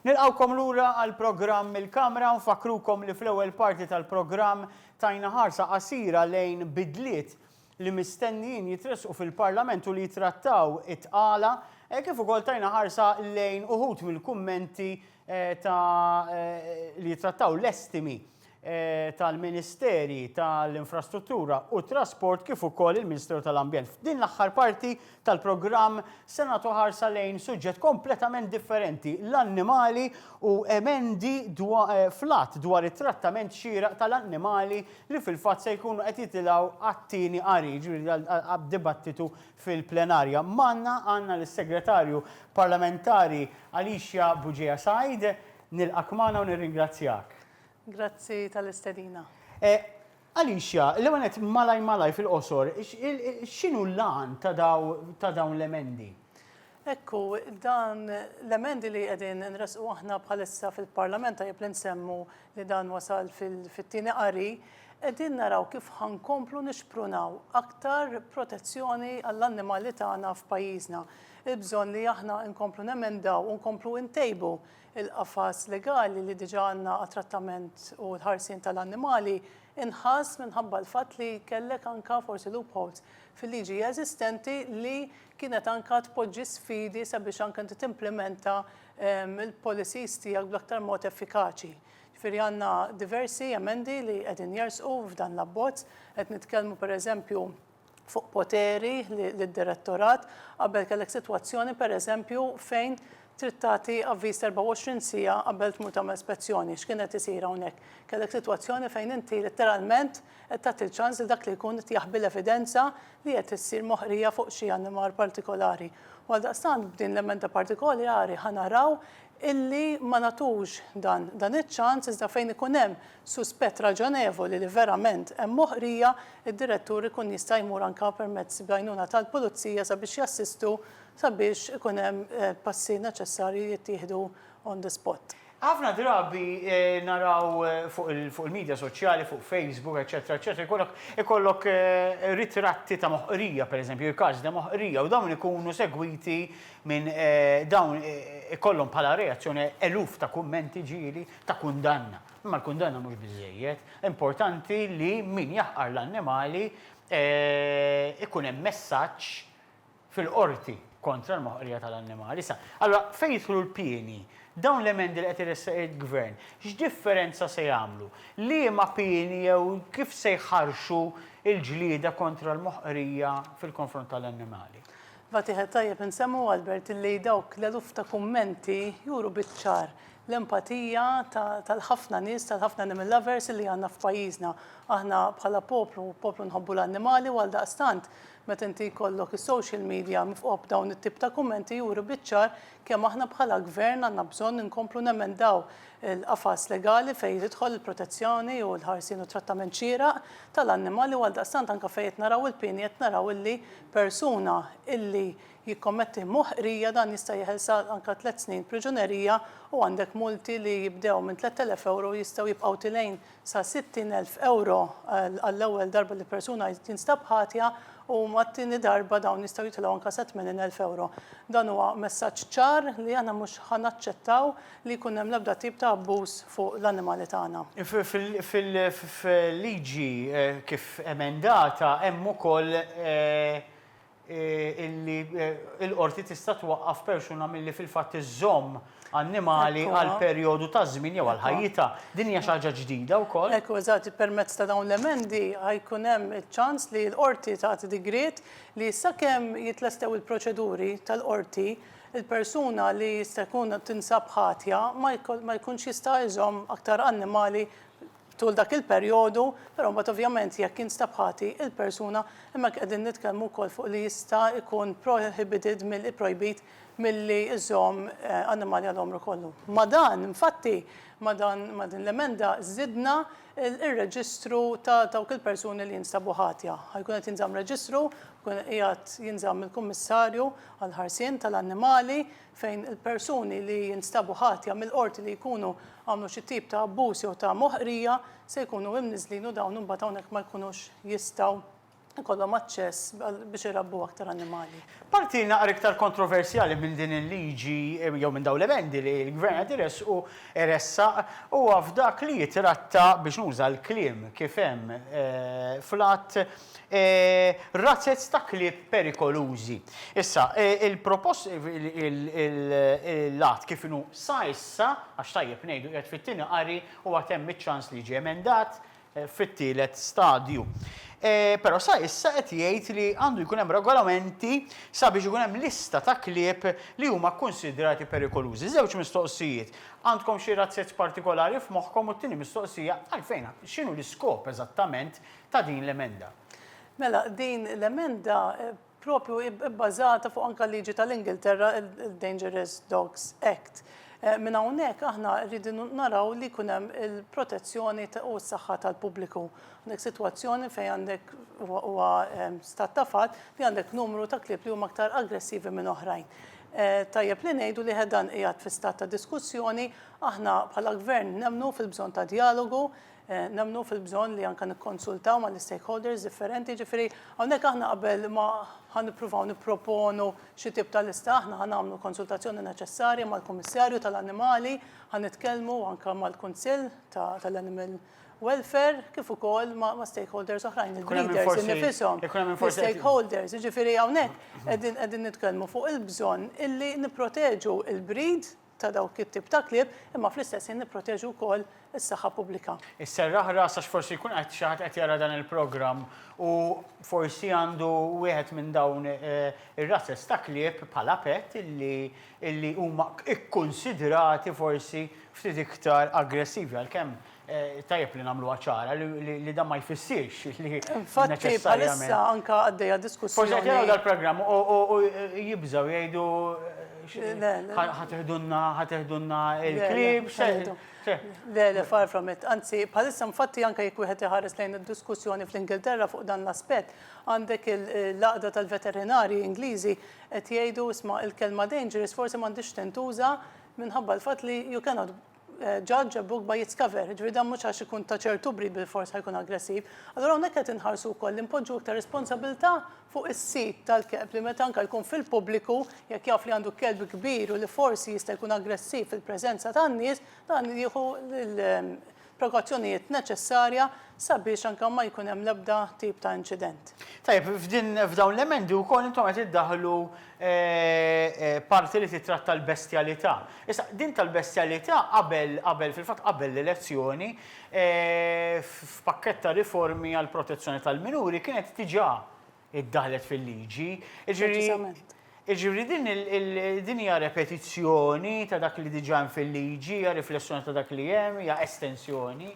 Nilqgħukom lura għall-programm mill-Kamra u nfakkrukom li fl-ewwel parti tal-programm tajna ħarsa qasira lejn bidliet li mistennijin jitressqu fil-Parlament u li jitrattaw it-tqala eh, kif ukoll tajna ħarsa lejn uħud mill-kummenti eh, ta' eh, li jitrattaw l-estimi tal-Ministeri tal-Infrastruttura u t-Trasport kif ukoll il-Ministeru tal-Ambjent. F'din l-aħħar parti tal-programm se nagħtu ħarsa lejn suġġett kompletament differenti, l-annimali u emendi fl-Att dwar it-Trattament Xieraq tal-Annimali li fil-fatt se jkunu qed jitilgħu għat-tieni qari, jiġifieri għad-dibattitu fil-plenarja. Magħna għandna lis-Segretarju Parlamentari Alicia Bugeja Said. Nilqgħek magħna u nirringrazzjak. Grazzi tal-istedina. Alicia, l-ewwel nett malaj malaj fil-qosor, x'inhu l-għan ta' dawn l-emendi? Hekk hu, dan l-emendi li qegħdin nressqu aħna bħalissa fil-Parlament, tajjeb li nsemmu li dan wasal fit-tieni qari, qegħdin naraw kif ħa nkomplu nixprunaw aktar protezzjoni għall-annimali tagħna f'pajjiżna. Il-bżonn li aħna nkomplu nemendaw u nkomplu ntejbu Il-qafas legali li diġà għandna għat-trattament u l-ħarsien ta' l-annimali nħass minħabba l-fatt li kellek anka forsi loopholes fil-liġi eżistenti li kienet anka tpoġġi sfidi sabiex anka inti timplimenta l-policies tiegħek bl-aktar mod effikaċi. Ġifieri għandna diversi emendi li qegħdin jersqu f'dan l-abbozz. Qed nitkellmu pereżempju fuq poteri lid-Direttorat qabel kellek sitwazzjoni, pereżempju, fejn trid tagħti avviż 24 siegħa qabel tmur tagħmel spezzjoni. X'kien qed isir hawnhekk? Kellek sitwazzjoni fejn inti litteralment qed tagħti l-ċans lil dak li jkun qed jaħbi l-evidenza li qed issir moħqrija fuq xi animal partikolari. U għaldaqstant b'din l-emenda partikolari ħa naraw illi ma nagħtux dan iċ-ċans iżda fejn ikun hemm suspett raġonevoli li verament hemm moħqrija, id-Direttur ikun jista' jmur anke permezz bl-għajnuna tal-Pulizija sabiex jassistu sabiex ikun hemm passi neċessarji jittieħdu on the spot. Ħafna drabi naraw fuq il-midja soċjali, fuq Facebook, eċċetera, eċċetera, jkollok ikollok ritratti ta' moħqrija, pereżempju, il-każ ta' moħqrija, u dawn ikunu segwiti minn dawn ikollhom bħala reazzjoni eluf ta' kummenti ġieli ta' kundanna. Imma l-kundanna mhux biżżejjed. Importanti li min jaħqar l-annimali ikun hemm messaġġ fil-qorti kontra l-moħqrija tal-annimali. Issa, allura fejn jidħlu l-pieni? Dawn l-emendi li qed iressaq il-Gvern, x'differenza se jagħmlu? Liema pieni jew kif se jħarrxu l-ġlieda kontra l-moħqrija fil-konfront tal-annimali? Iva tieħed tajjeb insemmu Albert illi dawk l-eluf ta' kummenti juru biċ-ċar l-empatija tal-ħafna nies, tal-ħafna animal lovers illi għandna f'pajjiżna. Aħna bħala poplu, poplu nħobbu l-annimali u għaldaqstant meta inti jkollok is-social media mifqugħa b'dawn it-tip ta' kummenti juri biċ-ċar kemm aħna bħala Gvern għandna bżonn inkomplu nemendaw il-qafas legali fejn tidħol il-protezzjoni u l-ħarsien u t-trattament xieraq tal-annimali u għaldaqstant anke fejn qed naraw il-pieni qed naraw illi persuna illi jikkommetti moħqrija dan jista' jeħel sa anke tliet snin priġunerija u għandek multi li jibdew minn 3,000 ewro u jistgħu jibqgħu tilgħin sa 60,000 ewro għall-ewwel darba li persuna tinstab ħatja u mat-tieni darba dawn jistgħu jitilgħu anke sa 80,000 ewro. Dan huwa messaġġ ċar li aħna mhux ħa naċċettaw li jkun hemm l-ebda tip ta' abbuż fuq l-annimali tagħna. Fil-liġi kif emendata hemm ukoll illi l-qorti tista' twaqqaf persuna milli fil-fatt iżżomm annimali għal perjodu ta' żmien jew għal ħajjitha. Din hija xi ħaġa ġdida wkoll? Hekk hu, eżatt. Permezz ta' dawn l-emendi ħa jkun hemm iċ-ċans li l-qorti tagħti digriet li sakemm jitlestew il-proċeduri tal-qorti, il-persuna li jista' jkun tinsab ħatja ma jkunx jista' jżomm aktar annimali tul dak il-perjodu, però mbagħad ovvjament jekk jinstab ħati il-persuna, hemmhekk qegħdin nitkellmu wkoll fuq li jista' jkun prohibited mill ipprojbit milli jżomm annimali għal għomru kollu. Ma' dan, infatti, ma' dan ma' din l-emenda żidna ir-reġistru ta' dawk il-persuni li jinstabu ħatja. Ħa jkun qed jinżamm reġistru, jkun qiegħed jinżamm il-Kummissarju għall-Ħarsien tal-Annimali fejn il-persuni li jinstabu ħatja mill-qorti li jkunu għamlu xi tip ta' abbuż jew ta' moħqrija se jkunu imniżżlin u dawn imbagħad hawnhekk ma jkunux jistgħu ikollhom aċċess biex irabbu aktar annimali. Parti naqra iktar kontroversjali minn din il-liġi jew minn dawn l-emendi li l-Gvern qed iressqu, iressaq, huwa f'dak li jitratta, biex nuża l-kliem kif hemm fl-Att, razzez ta' klieb perikolużi. Issa, il-propost, l-Att kif inhu sa issa, għax tajjeb ngħidu qiegħed fit-tieni qari u għad hemm iċ-ċans li jiġi emendat, fit-tielet stadju. Però sa issa qed jgħid li għandu jkun hemm regolamenti sabiex ikun hemm lista ta' klieb li huma kkunsidrati perikolużi. Żewġ mistoqsijiet, għandkom xi razzezz partikolari f'moħħkom u t-tieni mistoqsija, għalfejn, x'inhu l-iskop eżattament ta' din l-emenda? Mela, din l-emenda proprju ibbażata fuq anke l-liġi tal-Ingilterra, il-Dangerous Dogs Act. Minn hawnhekk aħna rridu naraw li jkun hemm il-protezzjoni u s-saħħa tal-pubbliku. Għandek sitwazzjoni fejn għandek huwa stat ta' fatt li għandek numru ta' klieb li huma aktar aggressivi minn oħrajn. Tajjeb li ngħidu li dan qiegħed fi stat ta' diskussjoni, aħna bħala Gvern nemmnu fil-bżonn ta' djalogu, Nemmnu fil-bżonn li anke nikkonsultaw mal-istakeholders differenti, jiġifieri hawnhekk aħna qabel ma ħa nippruvaw nipproponu xi tip ta' lista, aħna ħa nagħmlu l-konsultazzjoni neċessarja mal-Kummissarju tal-Annimali, ħa nitkellmu anke mal-Kunsill tal-Animal Welfare kif ukoll ma' stakeholders oħrajn, il-breeders innifishom, l-istakeholders. Jiġifieri hawnhekk qegħdin nitkellmu fuq il-bżonn illi nipproteġu l-breed, ta' dawk it-tip ta' klieb, imma fl-istess ħin nipproteġu wkoll is-saħħa pubblika. Is-serraħ ras għax forsi jkun qed xi ħadd qed jara dan il-programm u forsi għandu wieħed minn dawn ir-rases ta' klieb bħala pet illi illi huma kkunsidrati forsi ftit iktar aggressivi għalkemm Tajjeb li nagħmluha ċara li dan ma jfissirx li Infatti bħalissa anke għaddejja diskussjoni. Forsi qed jaraw dal-programm u jibżgħu jgħidu ħatiħdunna ħatiħdunna il-klib. Le, le, far from it. Anzi, bħalissa infatti anke jekk wieħed iħares lejn id-diskussjoni fl-Ingilterra fuq dan l-aspett, għandek il-laqda tal-veterinari Ingliżi qed jgħidu isma' il-kelma dangerous forsi m'għandix tintuża minħabba l-fatt li you cannot judge a book by its cover, jiġifieri dan mhux għax ikun ta' ċertu brid bilfors ħa jkun aggressiv. Allura hawnhekk qed inħarsu wkoll li npoġġu iktar responsabilità fuq is-sid tal-kelb li meta anke jkun fil-pubbliku jekk jaf li għandu kelb kbir u li forsi jista' jkun aggressiv fil-preżenza tan-nies, dan jieħu l-prekawzjonijiet neċessarja sabiex anke ma jkun hemm l-ebda tip ta' inċident. Tajjeb, f'dawn l-emendi wkoll intom qed iddaħħlu parti li tittratta l-bestjalità. Issa, din tal-bestjalità qabel, qabel, fil-fatt qabel l-elezzjoni, f'pakkett ta' riformi għall-protezzjoni tal-minuri kienet diġà iddaħħlet fil-liġi. Jiġifieri, jiġifieri din il, din hija repetizzjoni ta' dak li diġà hemm fil-liġi, hija riflessjoni ta' dak li hemm, hija estensjoni.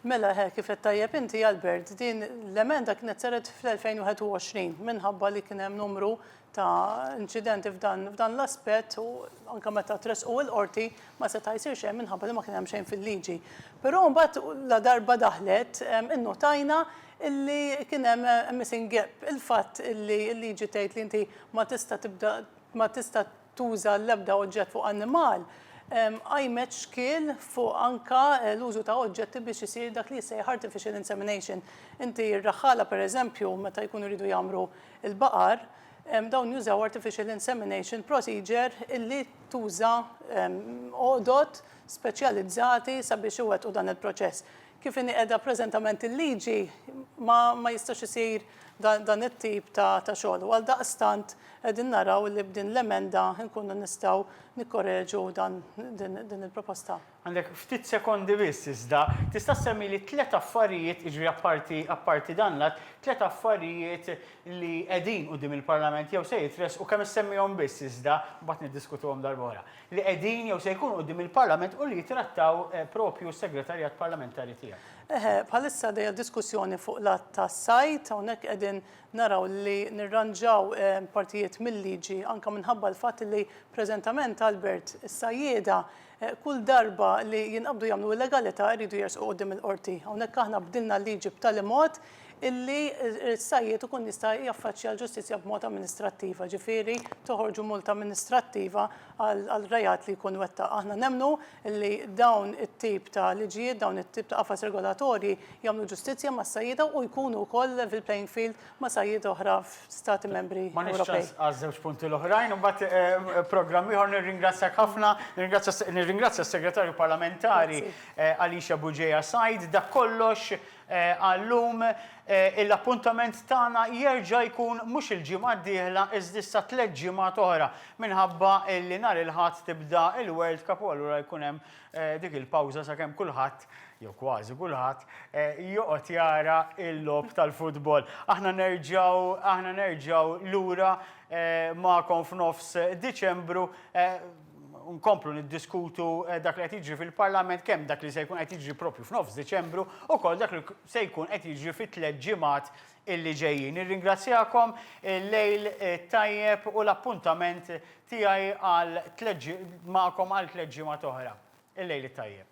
Mela, hekk kif għedt tajjeb inti, Albert, din l-emenda kienet saret fl-2021 minħabba li kien hemm numru, ta' inċidenti f'dan l-aspett u anke meta tressqu il-qorti ma seta' jsir xejn minħabba li ma kien hemm xejn fil-liġi. Però mbagħad la darba daħlet innutajna illi kien hemm missing gap, il-fatt illi l-liġi tgħid li inti ma tista' tibda ma tista' tuża l-ebda oġġett fuq annimal, qajmet xkiel fuq anke l-użu ta' oġġetti biex isir dak li jissejjaħ artificial insemination. Inti r-raħħala pereżempju meta jkunu jridu jgħammru l-baqar, dawn jużaw artificial insemination procedure illi tuża għodod speċjalizzati sabiex iwettqu dan il-proċess. Kif inhi qiegħda preżentament il-liġi, ma jistax isir dan it-tip ta' xogħol u għaldaqstant qegħdin naraw li b'din l-emenda nkunu nistgħu nikkoreġu din il-proposta. Għandek ftit sekondi biss iżda. Tista' ssemmili tliet affarijiet, jiġifieri apparti apparti dan l-att, tliet affarijiet li qegħdin quddiem il-Parlament jew se jitressqu, kemm issemmihom biss iżda, mbagħad niddiskutuhom darb'oħra. li qegħdin jew se jkunu quddiem il-Parlament u li jittrattaw proprju s-Segretarjat Parlamentari tiegħek. Eħe, bħalissa għaddejja diskussjoni fuq l-Att tas-Sajd, hawnhekk qegħdin naraw li nirranġaw partijiet mil-liġi anke minħabba l-fatt li preżentament, Albert, is-sajjieda kull darba li jinqabdu jagħmlu illegalità jridu jersqu quddiem il-Qorti. Hawnhekk aħna bdilna l-liġi b'tali mod illi s-sajjied ikun jista' jaffaċċja l-ġustizzja b'mod amministrattiva, jiġifieri toħorġu multa amministrattiva għal reat li jkun wettaq. Aħna nemmnu illi dawn it-tip ta' liġijiet, dawn it-tip ta' qafas regolatorji jagħmlu ġustizzja mas-sajjieda u jkunu wkoll level playing field ma' sajjieda oħra f'Stati Membri Ewropej. M'għandniex ċans għaż-żewġ punti l-oħrajn, imbagħad programm ieħor. Nirringrazzjak ħafna, nirringrazzja s-Segretarju Parlamentari Alicia Bugeja Said. Dak kollox Għal-lum, l-appuntament tagħna jerġa' jkun mhux il-ġimgħa d-dieħla iżda issa tliet ġimgħat oħra minħabba li nhar il-Ħadd tibda l-World Cup u allura jkun hemm dik il-pawża sakemm kulħadd, jew kważi kulħadd, joqgħod jara l-logħob tal-futbol. Aħna nerġgħu aħna nerġgħu lura magħkom f'nofs Diċembru. nkomplu niddiskutu eh, dak li qed jiġri fil-Parlament kemm dak li se jkun qed jiġri propju f'nofs Diċembru u kol dak li se jkun qed jiġri fit tliet ġimgħat illi ġejjin. Nirringrazzjakom eh, lejl eh, tajjeb u l-appuntament tiegħi għal tliet magħkom għal tliet ġimgħat oħra. Il-lejl tajjeb.